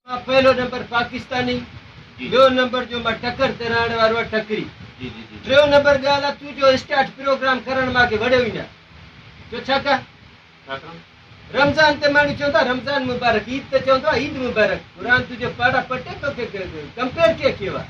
مان پهلو نمبر پاڪستاني ٻيو نمبر جو مان ٽڪر تي رهڻ وارو آهيان ٽڪري ٽيون نمبر ڳالهه آهي تون جو اسٽارٽ پروگرام ڪرڻ مان اڳي وڙهيو ئي نه جو ڇا ڪا رمضان تي ماڻهو چوندا رمضان مبارڪ عيد ته چوندو عيد مبارڪ قرآن تنهنجو پاڙا پٽي تو کي ڪمپيئر ڪي ڪيو آهي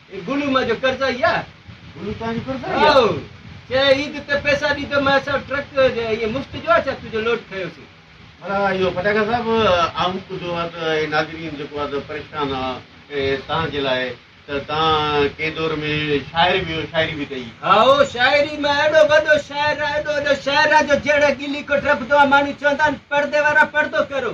اي گلو مان جو قرضائي آ. گلو توهان جو قرضائي آ. آء چئي عيد تي پئسا ڏي ته مان اسان ٽرڪ ائين مفت جو آ ڇا تنهنجو لوڊ کنيو سين. ڀلا اهو پٽاڪا صاحب آئون ٻڌو آ ته اهي ناظرين جيڪو آ ته پريشان آ توهان جي لاء ته توهان ڪنهن دور ۾ شاعر به هيو شاعري به ڪئي. هائو شاعري مان اهڙو وڏو شاعر آ اهڙو وڏو شاعر آ جو جهڙا ڳلي ڪوٽ رپدو آ ماڻهو چوندا آهن پڙدي وارا پڙدو ڪرو.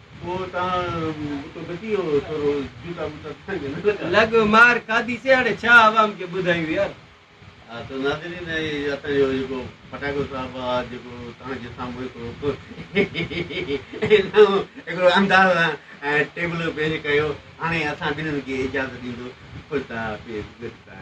لڳ مار کاڌي سي هاڻي ڇا عوام کي ٻڌايون يار. ها ته ناظرين هي اسان جو جيڪو پٽاڪو صاحب آ جيڪو توهان جي سامهون هڪڙو هڪڙو انداز سان ٽيبلو پيش ڪيو هاڻي اسان ٻنهين کي اجازت ڏيندو خدا حافظ گڊ بائي.